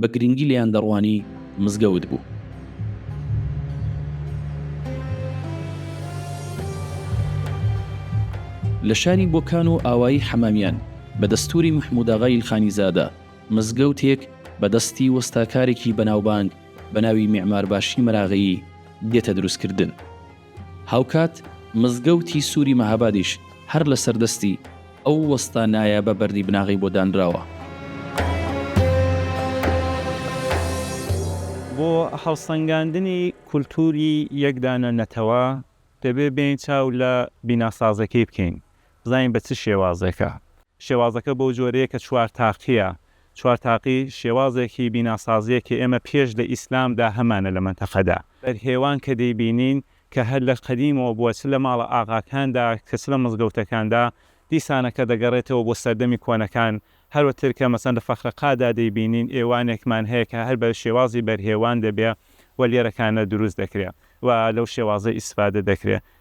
بە گرنگی لێیان دەڕوانی مزگەوت بوو. لە شاری بۆکان و ئاوایی حەمامیان، بە دەستووری مەحمووداغای ئیلخانیزادە، مزگەوتێک بە دەستی وەستاکارێکی بەناوبانگ بە ناوی میعمارباشی مەراغەیی دێتە دروستکردن. هاوکات مزگەوتی سوری مەهابادیش هەر لەسەر دەستی ئەو وەستا نایابە بەردی بناغەی بۆ دانراوە. بۆ هەڵسەنگاندنی کولتوری یەک دانە نەتەوە دەبێت بێین چاو لە بیناسازەکەی بکەین بزانین بە چ شێوازێکە. شێوازەکە بەو جۆرەیە کە چوار تاقییە چوار تاقی شێوازێکی بیناسازیە کە ئێمە پێش لە ئیسلام دا هەمانە لە مەنتەقەدا. بەرهێوان کە دەیبینین کە هەر لە قەدیمەوە بووە چ لە ماڵە ئاغاکاندا کە چ لە مزگەوتەکاندا دیسانەکە دەگەڕێتەوە بۆ سەردەمی کۆنەکان هەروەتر کە مەسەن لە فەخرەقا دا دەیبینین ئێوانێکمان هەیە کە هەر بە شێوازی بەرهێوان دەبێ و لێرەکانە دروست دەکرێ و لەو شێوازە ئیسفادە دەکرێ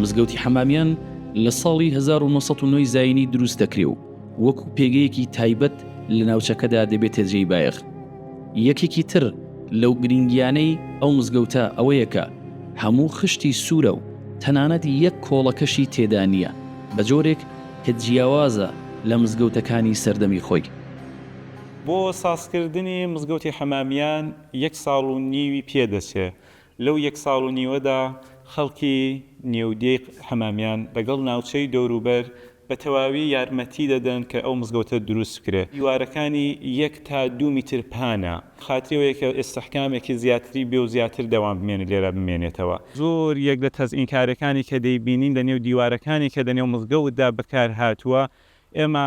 مزگەوتی حەمامیان لە ساڵی 1990 زینی دروست دەکرێ و وەکو پێگەیەکی تایبەت لە ناوچەکەدا دەبێتە جێی بایەخ یەکێکی تر لەو گرنگیانەی ئەو مزگەوتە ئەوەیە کە هەموو خشتی سوورە و تەنانەت یەک کۆڵەکەشی تێدا نییە بە جۆرێک کە جیاوازە لە مزگەوتەکانی سەردەمی خۆی. بۆ سازکردنی مزگەوتی حەمامیان یەک ساڵ و نیوی پێ دەچێ. لەو یەک ساڵ و نیوەدا خەڵکی نێو دێی حەمامیان لەگەڵ ناوچەی دەوروبەر بە تەواوی یارمەتی دەدەن کە ئەو مزگەوتە دروست بکرێت، دیوارەکانی یەک تا دوو میتر پانە، خاتری ئەوەیە کە ئیستحکامێکی زیاتری بێ و زیاتر دەوام بمێنێت لێرە بمێنێتەوە. زۆر یەک لە تەزئینکارەکانی کە دەیبینین لە نێو دیوارەکانی کە لە نێو مزگەوتدا بەکارهاتووە، ئێمە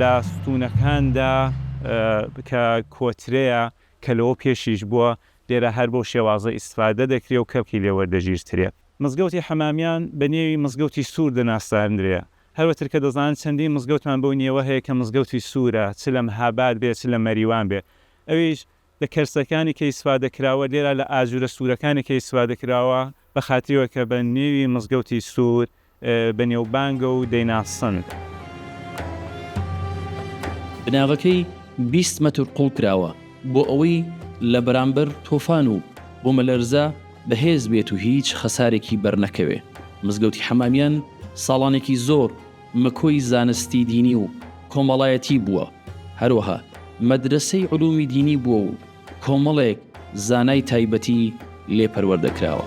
لە ستوونەکاندا کە کۆترەیە کە لەوە پێشیش بووە، لێرە هەر بەو شێوازە ئیستفادە دەکرێ و کەڵکی لێ وەردەگیرترێ. مزگەوتی حەمامیان بە نێوی مزگەوتی سوور دەناساندرێ، هەر وەتر کە دەزانن چەندین مزگەوتمان بەو نێوە هەیە کە مزگەوتی سوورە، چ لە مهاباد بێ چ لە مەریوان بێ، ئەویش لە کەرسەکانی کە ئیسفادە کراوە لێرە لە ئاجورە سورەکانی کە ئیسفادە کراوە بە خاتریەوە کە بە نێوی مزگەوتی سور بە نێوبانگە و دەیناسن. بناغەکەی بیست مەتر قوڵ کراوە بۆ ئەوەی لە بەرامبەر تۆفان و بومەلەرزە بەهێز بێت و هیچ خەسارێکی بەرنەکەوێ مزگەوتی حەمامیان ساڵانێکی زۆر مەکۆی زانستی دینی و کۆمەڵایەتی بووە، هەروەها مەدرەسەی علومی دینی بووە و کۆمەڵێک زانای تایبەتی لێ پەروەردە کراوە.